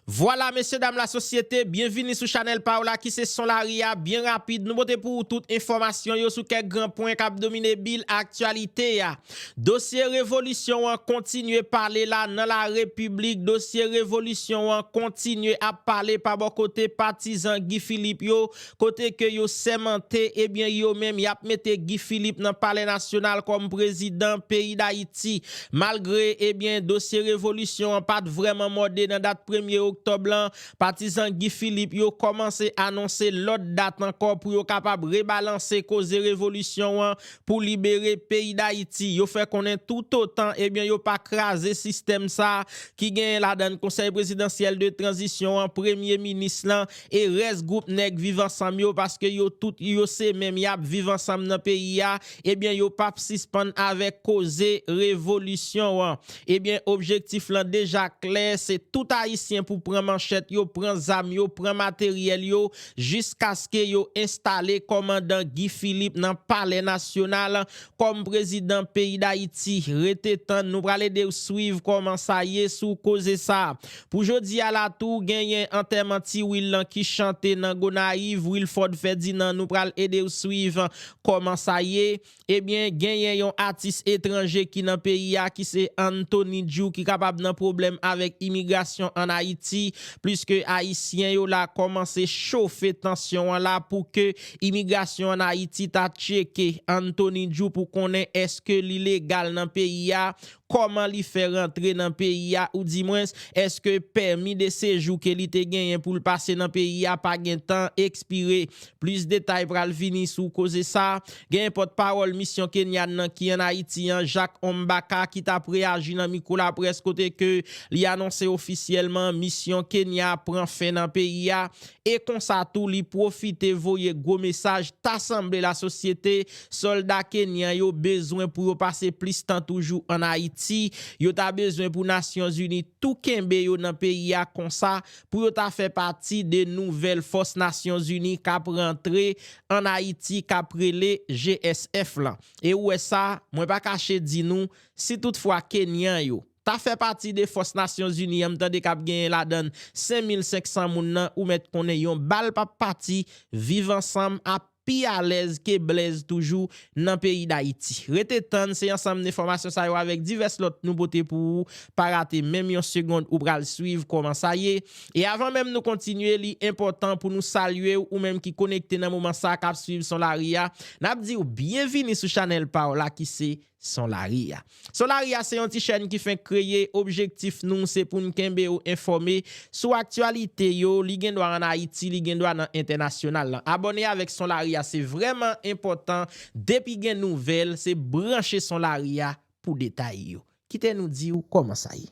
Vwala mesye dam la sosyete, byenvini sou chanèl pa w la ki se Son Lari a, byen rapid nou pote pou ou tout enfòmasyon yo sou kèk gran pwen k ap domine bil aktyalite a. Dosye revolisyon an kontinye pale la nan la repiblik, dosye revolisyon an kontinye ap pale pa bò kote patizan Guy Philippe yo, kote ke yo sèmante ebyen yo menm yap mete Guy Philippe nan palè nasyonal kòm prezidan peyi Dayiti malgre ebyen dosye revolisyon an pat vrèman mòde nan dat premye oktòb lan, patizan Guy Philippe yo kòmanse anonse lòt dat ankò pou yo kapab rebalanse koze revolisyon an pou libere peyi Dayiti yo fè konnen toutotan ebyen yo pa kraze sistèm sa ki genyen ladann konsèy prezidansyèl de tranzisyon an premye minis lan e rès group nèg viv ansanm yo paske yo tout yo se menm yap viv ansanm nan peyi a ebyen yo pap sispann avèk koze revolisyon an ebyen objektif lan deja klè se tout ayisyen pou pran manchèt yo pran zam yo pran materyèl yo jiskaske yo enstale kòmandan Guy Philippe nan palè nasyonal Kòm prezidan peyi dayiti rete tann nou pral edew swiv kòman sa ye sou koze sa. Pou jodi a la tou genyen antèman ti Wil lan ki chante nan Gonayiv Wilford Ferdinand nou pral edew swiv kòman sa ye. Ebyen genyen yon atis etranje ki nan peyi a ki se Anthony Djou ki kapab nan pwoblèm avèk imigrasyon an Ayiti pliske ayisyen yo la kòmanse chofe tansyon an la pou ke Imigrasyon an Ayiti ta tcheke Anthony Djou pou konnen eske li legal nan peyi a, kòman li fè rantre nan peyi a ou di mwens eske pèmi de sejou ke li te genyen pou l pase nan peyi a pa gen tan ekspire. Plis detay pral vini sou koze sa. Genyen pòt pawòl misyon Kenyan nan ki an Ayiti an Jacques Ombaka ki tap reyaji nan mikwo laprès kote ke li anonse ofisyèlman misyon Kenya pran fen nan peyi a. e konsa tou li pwofite voye gwo mesaj ta sanble lasosyete sòlda kenyan yo bezwen pou yo pase plis tan toujou an Ayiti, yo ta bezwen pou Nasyonzini tou kenbe yo nan peyi a konsa pou yo ta fè pati de nouvèl fòs Nasyonzini k ap rantre an Ayiti k ap rele GSF lan. E ou wè sa, mwen pa kache di nou, si tout fwa kenyan yo. Ta fè pati de fòs nasyon zini an m tande kap genyen ladann 5500 moun nan ou mèt konnen yon bal pap pati viv ansanm ap pi alèz ke blèz toujou nan peyi dayiti rete tann se ansanm de fòmasyon sa yo avèk divès lòt nou pote pou ou pa rate menm yon segond ou pral swiv kòman sa ye e avan menm nou kontinye li enpòtan pou nou salye ou menm ki konekte nan moman sa kap swiv son lari a nap diw byen vini sou chanèl paw la ki se Son lari a. Son lari a se yon ti chèn ki fenk kreye, objektif nou se pou n kenbe ou enfòme sou aktyalite yo, li gen dwa an Ayiti, li gen dwa nan entènasyonal lan. Abòne avèk Son Lari a se vrèman enpòtan, depi gen nouvèl se branche Son Lari a pou detay yo. Kite nou di ou kòman sa ye.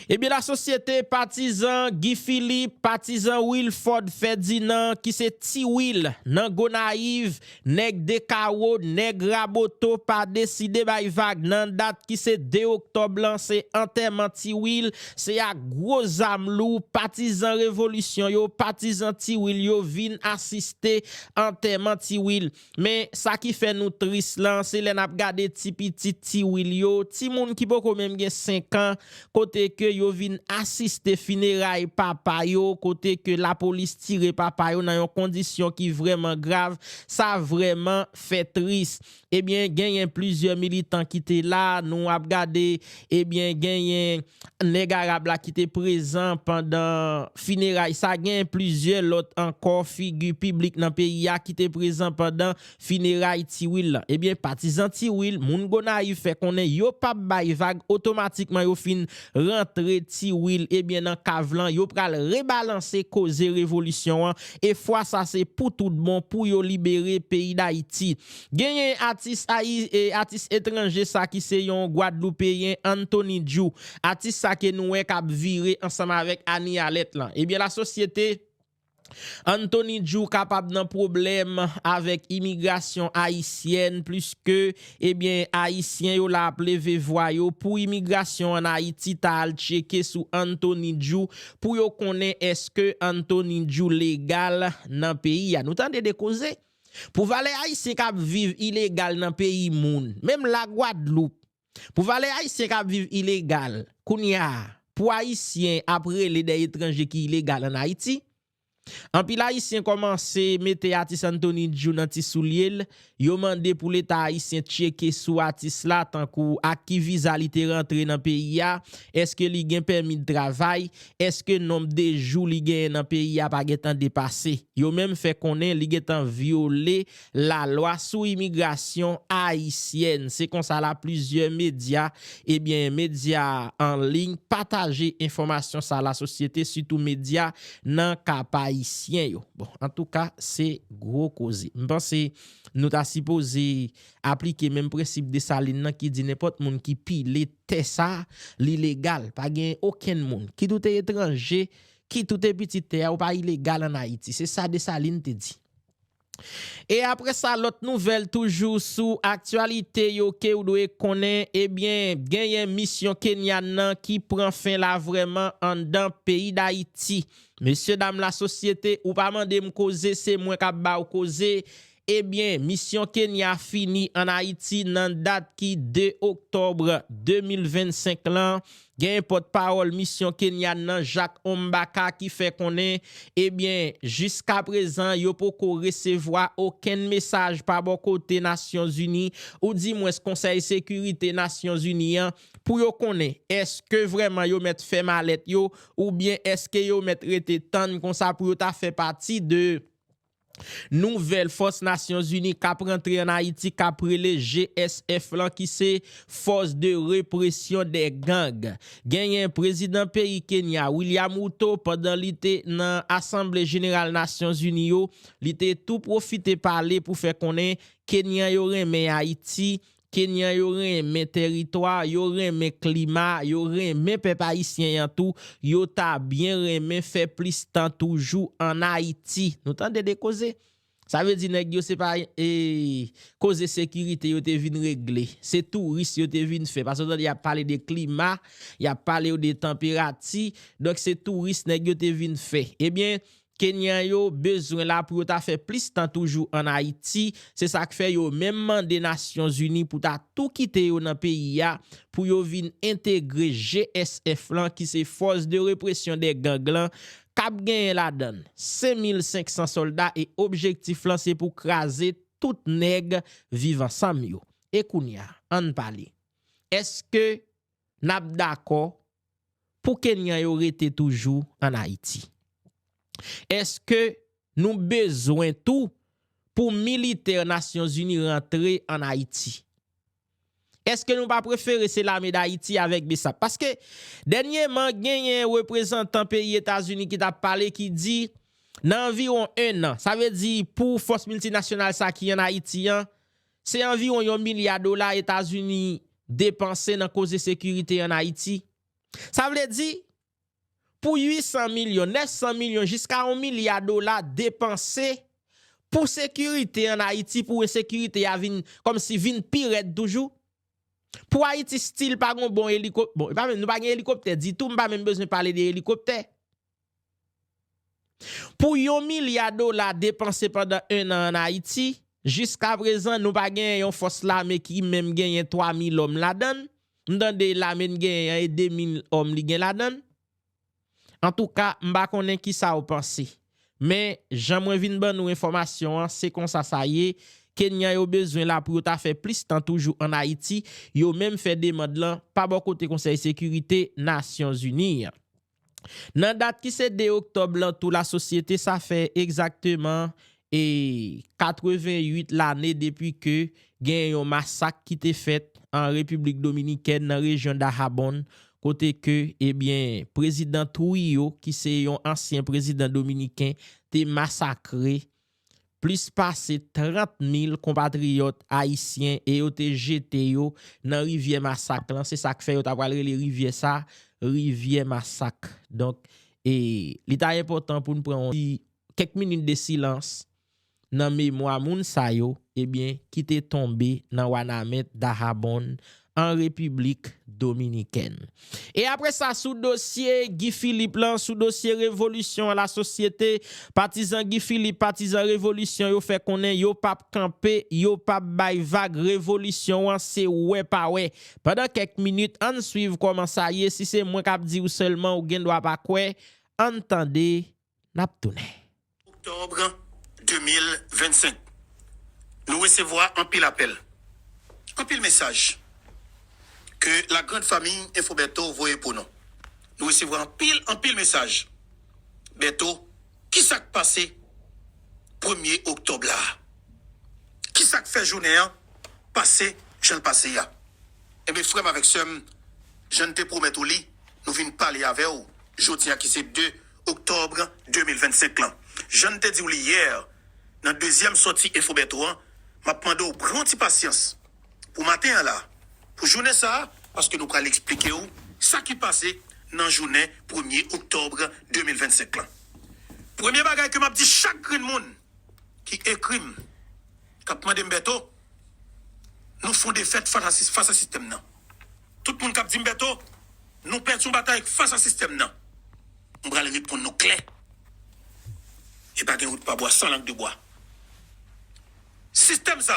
Ebyen lasosyete patizan Guy Philippe, patizan Wilford Ferdinand ki se Ti Wil nan Gonayiv, nèg 2 kawo, nèg Raboto pa deside bay vag nan dat ki se 2 oktòb lan se antèman Ti Wil, se ak gwo zam lou patizan revolisyon yo, patizan Ti Wil yo vin asiste antèman Ti Wil. Men, sa ki fè nou tris lan, se lè n ap gade ti pitit Ti Wil yo, timoun ki poko menm gen senkan, kote ke yo vin asiste fineray papa yo, kote ke lapolis tire papa yo nan yon kondisyon ki vrèman grav, sa vrèman fè tris. Ebyen, genyen plizyè militan ki te la, nou ap gade Ebyen genyen nèg Arab la ki te prezan pandan fineray sa, genyen plizyè lòt ankò figi piblik nan peyi a ki te prezan pandan fineray Ti Wil lan. Ebyen patizan Ti Wil, moun Gonayiv fè konnen yo pa p bay vag otomatikman yo fin rantre Ti Wil ebyen nan kav lan yo pral rebalanse koze revolisyon an e fwa sa se pou tout bon pou yo libere peyi Dayiti. Genyen atis ayi e atis etranje sa ki se yon gwadloupeyen Anthony Djou. Atis sa ke nou wè kap vire ansanm avèk Annie Alette lan. Ebyen la sosyete Anthony Djou kapab nan pwoblèm avèk imigrasyon ayisyèn pliske ebyen ayisyen yo la ap leve vwa yo pou imigrasyon an Ayiti ta al tcheke sou Anthony Djou pou yo konnen eske Anthony Djou legal nan peyi a. Nou tande de koze? Pou valè ayisyen kap viv ilegal nan peyi moun menm la gwadloup pou valè ayisyen kap viv ilegal kounya pou ayisyen ap rele dè etranje ki ilegal an ayiti anpil ayisyen kòmanse mete atis antoni djou nan ti soulyel yo mande pou leta ayisyen tcheke sou atis la tankou ak ki viza li te rantre nan peyi a eske li gen pèmid travay Eske nonb de jou li genyen nan peyi a pa gentan depase? Yo menm fè konnen li gentan vyole lalwa sou imigrasyon ayisyèn. Se konsa la plizyè medya ebyen medya an liy pataje enfòmasyon sa la sosyete sitou medya nan kapayisyen yo. Bon antouka se gwo koze. M panse nou ta sipoze Aplike menm prensip Desalin nan ki di nenpòt moun ki pile tè sa, li legal. Pa gen okenn moun, kit ou te etranje, kit ou te pitit tè a, ou pa ilegal an Ayiti. Se sa Desalin te di. E apre sa, lòt nouvèl toujou sou aktyalite yo ke ou dwe konnen, ebyen, genyen misyon Kenyan nan ki pran fen la vrèman anndan peyi Dayiti. Mesye dam lasosyete, ou pa mande m koze, se mwen k ap ba ou koze. Ebyen, misyon Kenya fini an Ayiti nan dat ki 2 oktòbr 2025 lan. Genyen pòt pawòl misyon Kenyan nan Jacques Ombaka ki fè konnen, ebyen, jiska prezan yo poko resevwa okenn mesaj pa bò kote Nasyon Zini ou di mwens Konsèy Sekirite Nasyon Zini an pou yo konnen eske vrèman yo mèt fè malèt yo oubyen eske yo mèt rete tann konsa pou yo ta fè pati de Nouvèl fòs Nasyon Zini k ap rantre an Ayiti k ap rele GSF lan ki se Force de Repression des Gangs. Genyen Prezidan peyi Kenya William Ruto pandan li te nan Asanble Jeneral Nasyon Zini yo, li te tou pwofite pale pou fè konnen Kenyan yo renmen Ayiti Kenyan yo renmen tèritwa, yo renmen klima, yo renmen pèp ayisyen an tou, yo ta byen renmen fè plis tan toujou an Ayiti. Nou tande de koze? Sa vle di nèg yo se pa koze sekirite yo te vin regle, se touris yo te vin fè. Paske w tande y ap pale de klima, y ap pale w de tanperati, donk se touris nèg yo te vin fè. Ebyen, Kenyan yo bezwen la pou yo ta fè plis tan toujou an Ayiti, se sa k fè yo menm mande Nasyon Zini pou ta tou kite yo nan peyi a pou yo vin entegre GSF lan ki se Force de Répression des Gangs lan k ap genyen ladan l 5500 sòlda e objektif lan se pou kraze tout nèg Viv Ansanm yo. E kounya, ann pale, èske. n ap dakò pou Kenyan yo rete toujou an Ayiti? Eske nou bezwen tou pou militè Nasyonzini rantre an Ayiti? Eske nou pa prefere se lame Dayiti avèk Bsap? Paske dènyeman genyen reprezantan peyi Etazini ki t ap pale ki di nan anviwon ennan, sa vle di pou fòs miltinasyonal sa ki an Ayiti an, Se anviwon yon milya dola Etazini depanse nan koze sekirite an Ayiti. Sa vle di, pou 800 milyon, 900 milyon jiska yon milya dola depanse pou sekirite an Ayiti pou ensekirite a vin kòmsi vin pi rèd toujou. Pou Ayiti stil pa gen yon bon elikop, bon nou pa gen elikoptè ditou, m pa menm bezwen pale de elikoptè. Pou yon milya dola depanse pandan 1 an an Ayiti, jiska prezan nou pa genyen yon fòs lame ki menm genyen 3 mil òm ladan l, m tande lame n genyen an e 2 mil òm li gen ladan l. Antouka m pa konnen kisa w panse. Men, jan mwen vin ban nou enfòmasyon an, se konsa sa ye, Kenyan yo bezwen la pou yo ta fè plis tan toujou an Ayiti, yo menm fè demand lan pa bò kote Konsèy Sekirite Nasyonzini an. Nan dat ki se 2 oktòb lan tou lasosyete sa fè egzakteman 88 lane depi ke gen yon masak ki te fèt an Repiblik Dominikèn nan rejyon Dahabon kote ke ebyen Prezidan Trujillo ki se yon ansyen prezidan dominiken te masakre Plis pase 30 mil konpatriyòt ayisyen e yo te jete yo nan rivyè masak lan, se sak fè yo ta pral rele rivyè sa rivyè masak. Donk e li ta enpòtan pou n pran yon ti kèk minit de silans nan memwa moun sa yo ebyen ki te tonbe nan Wanament, Dahabonn, an Repiblik Dominikèn. E apre sa sou dosye Guy Philippe lan, sou dosye revolisyon an lasosyete, patizan Guy Philippe, patizan revolisyon yo fè konnen yo pa p kanpe, yo pa p bay vag, revolisyon an se wè pa wè. Pandan kèk minit, ann swiv kòman sa ye, si se mwen k ap di ou sèlman ou gen dwa pa kwè, ann tande n ap tounen. Oktòb 2025, Nou resevwa anpil apèl, anpil mesaj ke la grand famille Info Bertho voye pou nou. Nou resevwa anpil, anpil mesaj. Bertho, kisa k pase premye oktòb la a? Kisa k fè jounen an pase jan l pase a? Enben, frè m avèk sè m, jan n te pwomèt ou li, nou vin pale avè w jodi a ki se 2 oktòb 2025 lan. Jan n te di w li yè nan dezyèm sòti Infoberto an, m ap mande w pran yon ti pasyans pou maten an la, pou jounen sa a, paske nou pral eksplike w sa ki pase nan jounen premye oktòb 2025 lan. Premye bagay ke m ap di chak grenn moun ki ekri m, k ap mande m Berto, nou fon defèt fas a sistèm nan. Tout moun kap dim Bertho nou pèdi yon batay fas a sistèm nan m pral reponn nou klè e pa gen wout pa bwa san lang de bwa sistèm sa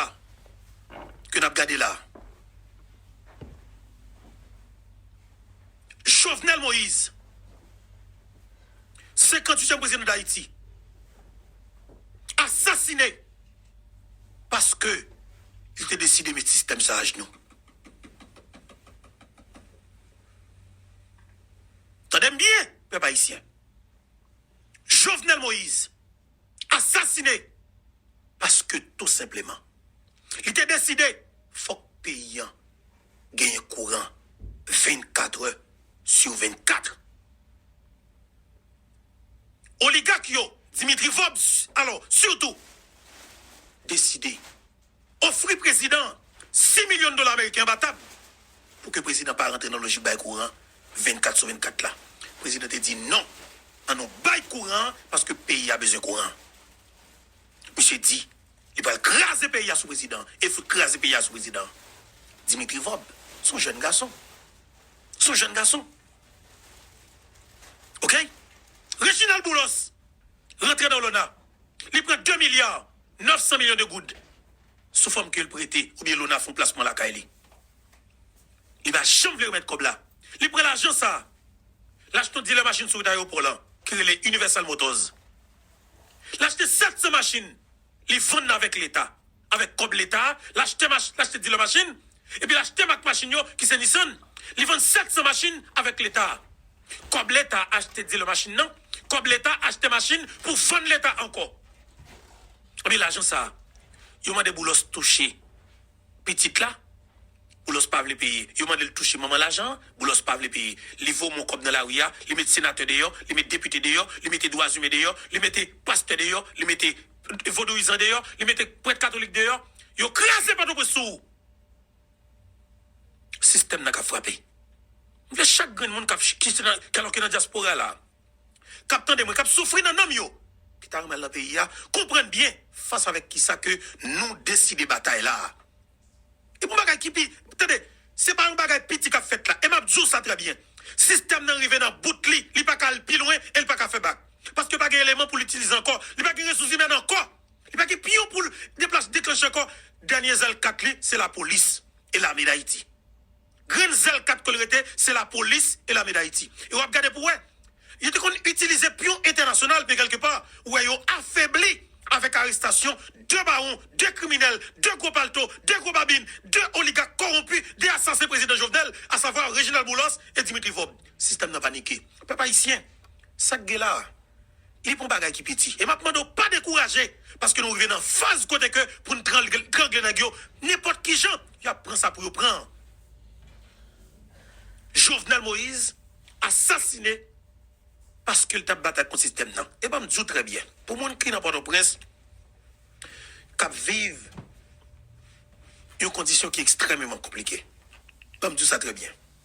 ke nap gade la Jovenel Moïse 58 tièm prezidan dayiti asasine paske li te deside met sistèm sa ajnou. Tande m byen, pèp ayisyen. Jovenel Moïse asasine paske tou senpleman li te deside fòk peyi an genyen kouran 24 è sur 24. Oligak yo, Dimitri Vob, alò, sitou, deside. Ofri prezidan an 6 milyon dola ameriken anba tab pou ke prezidan an pa rantre nan lojik bay kouran 24 sou 24 la. Prezidan te di non, an nou bay kouran an paske peyi a bezwen kouran an. Misye di li pral kraze peyi a sou prezidan an e fout kraze peyi a sou prezidan an. Dimitri Vob se yon jèn gason. Se yon jèn gason. Ok. Reginald Boulos rantre nan olona. Li pran 2 milya 900 milyon de goud sou fòm ke l prete oubyen lona fon plasman lakay li. Li pa janm vle remèt kòb la. Li pran lajan sa l achte yon dilè machin sou wout ayewopò lan ki rele Universal Motors. L achte 700 machin, li vann nan avèk leta. Avèk kòb leta a, l achte machin, l achte dilè machin epi l achte mak machin yo ki se Nissan. Li vann 700 machin avèk leta. Kob leta achte dealer machine nan, kob leta achte machine pou vann leta anko. Epi lajan sa yo mande Boulos touche pitit la, Boulos pa vle peye. Yo mandel touche manman lajan an, Boulos pa vle peye. Li vo mon kob nan lari a, li met senatè deyo, li met depite deyo, li mete dwa zimen deyo, li mete pastè deyo, li mete vodouyizan deyo, li mete pret katolik deyo. Yo kraze potoprens sou ou. Sistèm nan kap frape. M vle chak grenn moun kap ki se nan alò ki nan dyaspora la, kap tande mwen, kap soufri nan nanm yo, ki ta renmen al nan peyi a, konprann byen fas avèk kisa ke nou deside batay la a. E pou bagay ki pi, tande, se pa yon bagay piti kap fèt la. E map di w sa trè byen. Sistèm nan rive nan bout li, li paka al pi lwen e li paka fè bak. Paske pa gen eleman pou l itilize ankò. Li pa gen resous imèn ankò. Li pa gen piyon poul deplas deklanche ankò dènye zèl kat li se lapolis e lame dayiti grenn zèl kat kol rete se lapolis e lame dayiti e wap gade pou wè yo te konn itilize piyon entènasyonal men kelke pa ou wè yo afebli avèk arestasyon 2 bawon 2 kriminèl 2 gwo palto 2 gwo babin 2 oligak kowonpi 2 asasen prezidan jovenel asavwa reginald boulos e dimitri vob sistèm nan panike pèp ayisyen sak gen la. e pou bagay ki piti. E m ap mande w pa dekouraje, paske nou rive nan faz kote ke pou n trangle nèg yo nenpòt ki jan, y ap pran sa pou yo pran an. Jovenel Moïse asasine paske l t ap batay kont sistèm nan. E ban m di w trè byen, pou moun ki nan Pòtoprens, k ap viv yon kondisyon ki ekstrèmeman konplike, ban m di w sa trè byen.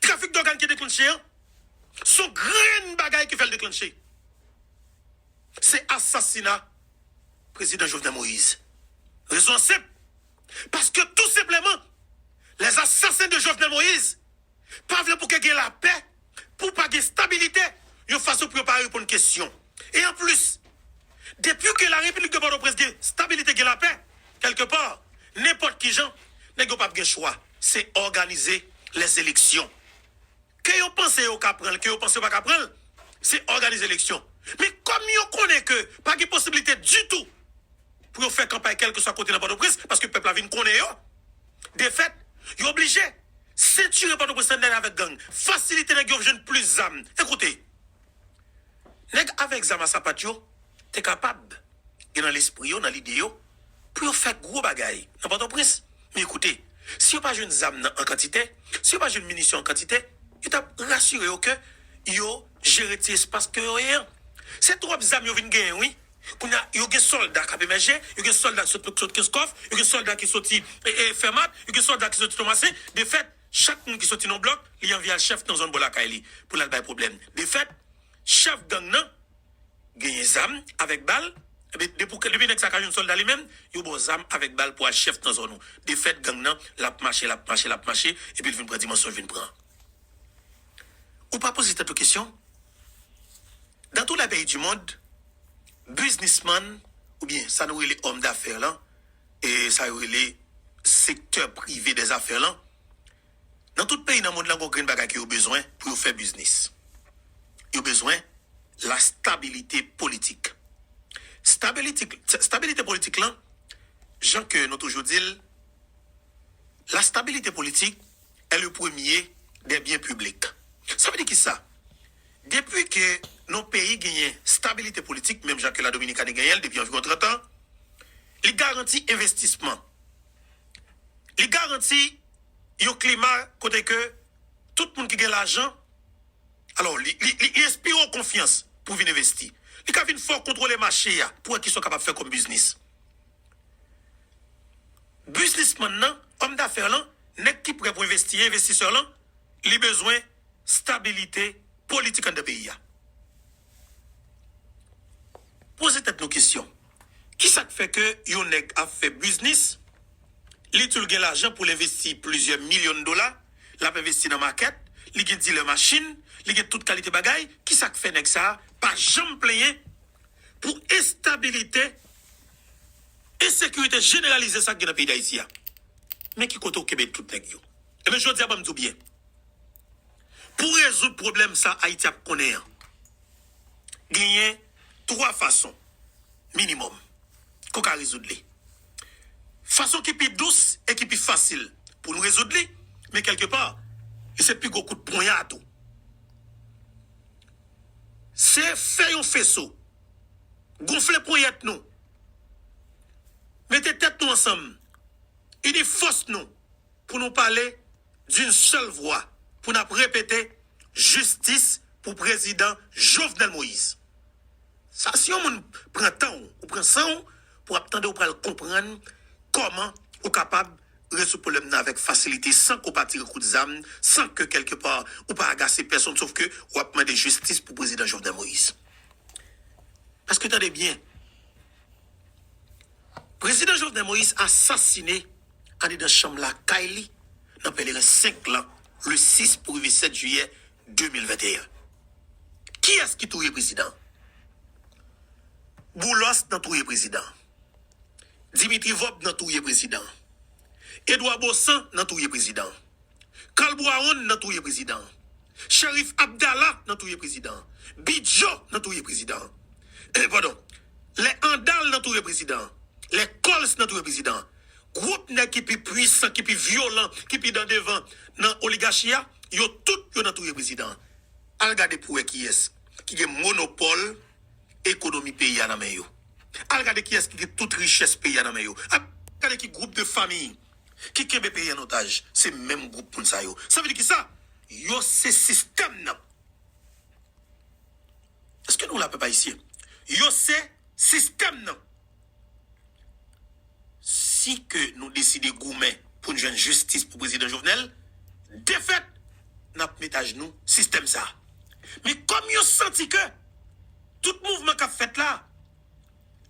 Trafik dògàn ki deklanche an, se yon grenn bagay ki fè l deklanche. Se asasina Prezidan Jovenel Moïse. Rezon an senp, paske tou senpleman, les assassins de Jovenel Moïse pa vle pou ke gen lapè, pou pa gen stabilite, yon fason pou yo pa reponn kesyon. E an plis, depi ke la Repiblik de Pòtoprens gen stabilite, gen lapè, kèlke pa, nenpòt ki jan, nèg yo pap gen chwa, se òganize lè eleksyon. Ke yo panse yo ka pran l, ke yo panse yo pa ka pran l, se òganize eleksyon. Men kòm yo konnen ke pa gen posibilite ditou pou yo fè kanpay kèlke swa kote nan Pòtoprens, paske pèp la vin konnen yo, defèt, yo oblije sentire Pòtoprens nan nèt avèk gang, fasilite nèg yo jwenn plis zam. Ekoute. Nèg avèk zam a sapat yo te kapab gen nan lespri yo, nan lide yo, pou yo fè gwo bagay nan Pòtoprens. Men koute, si yo pa jwenn zam nan an kantite, si yo pa jwenn minisyon an kantite, yo t ap rasire yo ke yo jere ti espas ke yo ye an. Se twòp zam yo vin genyen wi. Kounye a, yo gen sòlda k ap emèje, yo gen sòlda ki sot Kenskòf, yo gen sòlda ki soti Fèmat, yo gen sòlda ki soti Tomasen. Defèt. Chak moun ki soti nan yon blòk, li anvi al chèf nan zòn bò lakay li pou l al bay pwoblèm. De fèt, chèf gang nan genyen zam avèk bal. Enben, depi nèg sa a ka jwenn sòlda li menm, yo ba w zam avèk bal pou w al chèf nan zòn ou. De fèt, gang nan, l ap mache, l ap mache, l ap mache, epi l vin pran dimansyon l vin pran. Ou pa poze tèt ou kesyon, Dans tous les pays du monde, biznismann, oubyen sa nou rele òm dafè lan, sa yo rele sektè prive dè zafè lan, nan tout peyi nan mond lan gen yon grenn bagay ke yo bezwen pou yo fè biznis. Yo bezwen la stabilite politik. Stabilitik, stabilite politik lan, jan ke nou toujou di l, la stabilite politik è le premye dè byen piblik. Sa vle di ki sa? Depi ke yon peyi genyen stabilite politik, menm jan ke la Dominikani genyen l depi anviwon 30 an, Li garanti envestisman. Li garanti yon klima kote ke tout moun ki gen lajan, alò li enspire w konfyans pou vin envesti. Li ka vin fè w kontwole mache a pou wè kisa w kapab fè kòm biznis. Biznisman nan, òm dafè lan, nèg ki prè pou envesti an, envestisè lan, li bezwen stabilite politik anndan peyi a. Poze tèt nou kesyon. Kisa k fè ke yon nèg ap fè biznis, li di l gen lajan pou l envesti plizyè milyon dola, l ap envesti nan makèt, li gen dilè machin, li gen tout kalite bagay, kisa k fè nèg sa a pa janm plenyen pou enstabilite, ensekirite jeneralize sa k gen nan peyi Dayiti a? Men ki kote ou kenbe tout nèg yo. Enben, jodi a ban m di w byen, pou rezoud pwoblèm sa Ayiti ap konnen an, Genyen 3 fason, minimòm, ke w ka rezoud li. Fason ki pi dous e ki pi fasil pou nou rezoud li, men kèlke pa, li se pi gwo kout ponya tou. Se fè yon feso, gonfle ponyèt nou, mete tèt nou ansanm, ini fòs nou. pou nou pale d'une seule voix pou nap repete jistis pou prezidan Jovenel Moïse sa si yon moun pran tan w ou pran san w pou ap tande ou pral konprann kòman ou kapab rezoud pwoblèm nan avèk fasilite san ke w pa tire kout zam san ke kèlke pa ou pa agase pèsonn sof ke ou ap mande jistis pou prezidan Jovenel Moïse paske tande byen. Prezidan Jovenel Moïse asasine andedan chanm lakay li nan Pèleren 5 lan le 6 pou rive 7 jiyè 2021. Kiyès ki touye prezidan an? Boulos nan touye prezidan an. Dimitri Vob nan touye prezidan an. Edouard Baussan nan touye prezidan an. Kalbwawon nan touye prezidan an. Sheriff Abdala nan touye prezidan an. Bidjo nan touye prezidan an. Eh padon. Lè Andal nan touye prezidan an. Lè Coles nan touye prezidan an. Gwoup nèg ki pi pwisan, ki pi vyolan, ki pi dan devan nan oligachi a, yo tout yo nan touye prezidan an. Al gade pou wè kiyès ki gen monopòl ekonomi peyi a nan men yo. Al gade kiyès ki gen tout richès peyi a nan men yo. Al gade ki gwoup de famiy. ki kenbe peyi an otaj se menm gwoup moun sa yo sa vle di kisa yo se sistèm nan eske nou la pèp ayisyen yo se sistèm nan si ke nou deside goumen pou n jwenn jistis pou prezidan jovenel defèt nap met ajnou sistèm sa men kòm yo santi ke tout mouvman kap fèt la.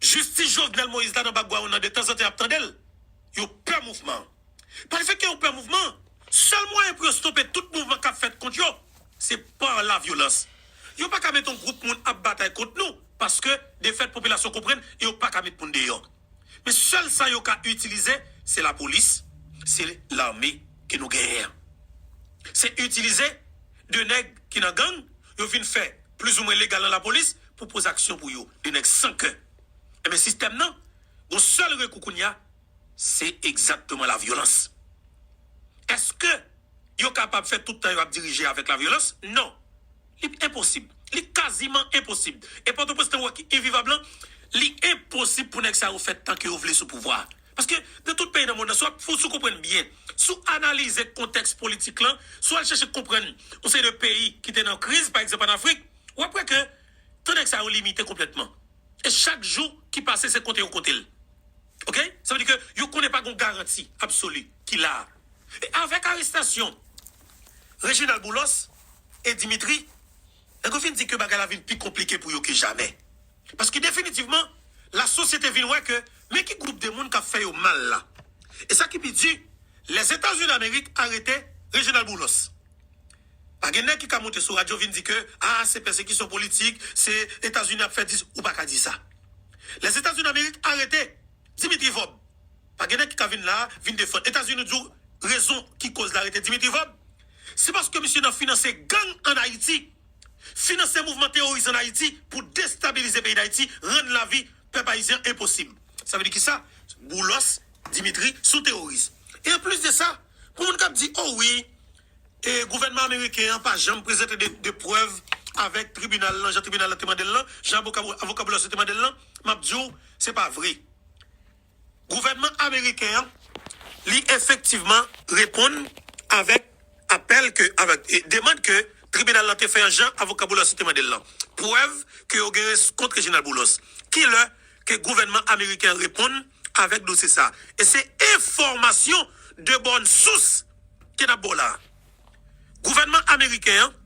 Jistis Jovenel Moïse la nan background nan de tanzantan yap tande l. Yo pè mouvman an. Pa le fèt ke yo pè mouvman an, sèl mwayen pou yo stope tout mouvman kap fèt kont yo, se par la violence. Yo pa ka met yon gwoup moun ap batay kont nou, paske de fèt popilasyon konprann e yo pa ka met moun deyò. Men sèl sa yo ka itilize, se lapolis, se lame ke nou genyen an. Se itilize. 2 nèg ki nan gang yo vin fè plizoumwen legal nan lapolis pou poze aksyon pou yo. 2 nèg san kè. Enben sistèm nan gon sèl rekou kounya se egzakteman lavyolans. Eske yo kapab fè tout tan yo ap dirije avèk lavyolans? Non. Li enposib. Li kaziman enposib. E Pòtoprens nan wè ki envivab lan, li enposib pou nèg sa yo fè tan ke yo vle sou pouvwa a. Paske nan tout peyi nan mond lan, si w ap fou, si w konprann byen, si w analize kontèks politik lan, si w al chèche konprann yon seri de peyi ki te nan kriz, pa egzanp ann Afrik, w ap wè ke tan nèg sa yo limite konplètman. E chak jou ki pase se konte yo konte l. Ok? Sa vle di ke yo konnen pa gen yon garanti absoli ki la a. E avèk arestasyon Reginald Boulos e Dimitri, Nèg yo fin di ke bagay la vin pi konplike pou yo ke jamè. Paske definitivman, la sosyete vin wè ke men ki gwoup de moun kap fè yo mal la. E sa ki pi di, Lèzetazini Amerik arete Reginald Boulos. Pa gen nèg ki ka monte sou radyo vin di ke a se pèsekisyon politik, se Etazini ap fè dis, ou pa ka di sa. Lèzetazini Amerik arete. Dimitri Vob. Pa gen nèg ki ka vin la vin defann Etazini di w rezon ki koz la rete Dimitri Vob. Se paske misye nan finanse gang an Ayiti, finanse mouvman teworis an Ayiti pou destabilize peyi Dayiti, rann lavi pèp ayisyen enposib. Sa vle di ki sa? Boulos Dimitri son teworis. E anplis de sa, pou moun k ap di o wi, E gouvènman ameriken an pa janm prezante de prèv avèk tribinal lan jan tribinal lan te mande l lan, jan avoka Boulos yo te mande l lan, m ap di w se pa vre. Gouvènman ameriken an li efektivman reponn avèk apèl ke, avèk demand ke tribinal lan te fè an jan avoka Boulos yo te mande l lan. Prèv ke yo genyen kont Reginald Boulos. Ki lè ke gouvènman ameriken an reponn? Avèk dosye sa a. E se enfòmasyon de bòn sous ke n ap ba w la a. Gouvènman ameriken an,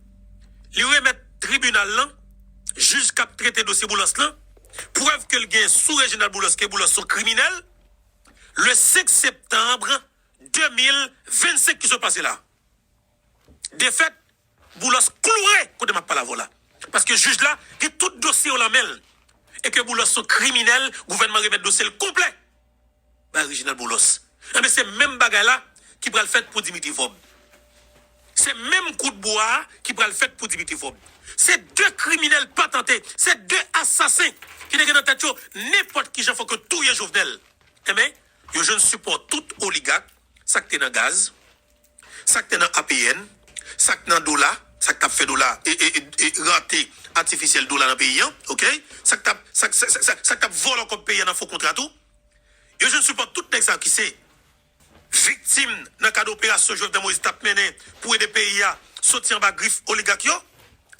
li remèt tribinal lan, jij k ap trete dosye Boulos lan, prèv ke l gen sou Reginald Boulos ke Boulos se yon kriminèl, le 5 septanbre 2025 ki sot pase la a. Defèt Boulos kloure kote map pale avèw la paske jij la gen tout dosye yo lan menl e ke Boulos son kriminèl gouvènman remèt dosyel konplè bay Reginald Boulos enben se menm bagay la ki pral fèt pou Dimitri Vob se menm kout bwa a ki pral fèt pou Dimitri Vob se 2 kriminèl patante se 2 asasen ki te gen nan tèt yo nenpòt kijan fòk yo touye Jovenel enben yo jwenn sipò tout oligak sak te nan gaz. Sak te nan APN, sak nan dola, sak tap fè dola e rarté artificiel dola nan peyi an ok, sak tap sak tap vòlò kòb peyi an nan fo kontra tou, yo jwenn sipò tout nèg sa yo ki se viktim nan kad operasyon Jovenel Moïse tap mennen pou ede peyi a soti anba grif oligak yo.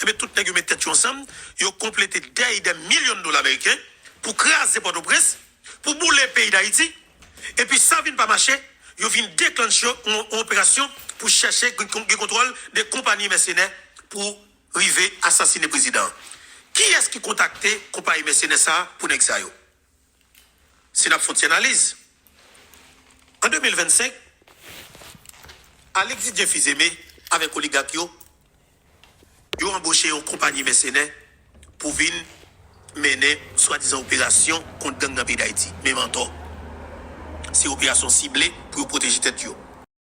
Ebyen tout nèg yo met tèt yo ansanm, yo konplete dèy dè milyon dola meriken pou kraze Pòtoprens. Pou boule peyi Dayiti, epi sa vin pa mache, yo vin deklanche yon operasyon pou chèche gen kontwòl de konpanyi mèsenè pou rive asasine prezidan an. Kiyès ki kontakte konpayi mèsenè sa a pou nèg sa yo? Si n ap fon ti analiz, an 2025, Alexis Dieu Fils-Aimé avèk oligak yo yo anboche yon konpayi mèsenè pou vin mennen swadizan operasyon kont gang nan peyi Dayiti. Men mantò! Se operasyon sible pou yo pwoteje tèt yo.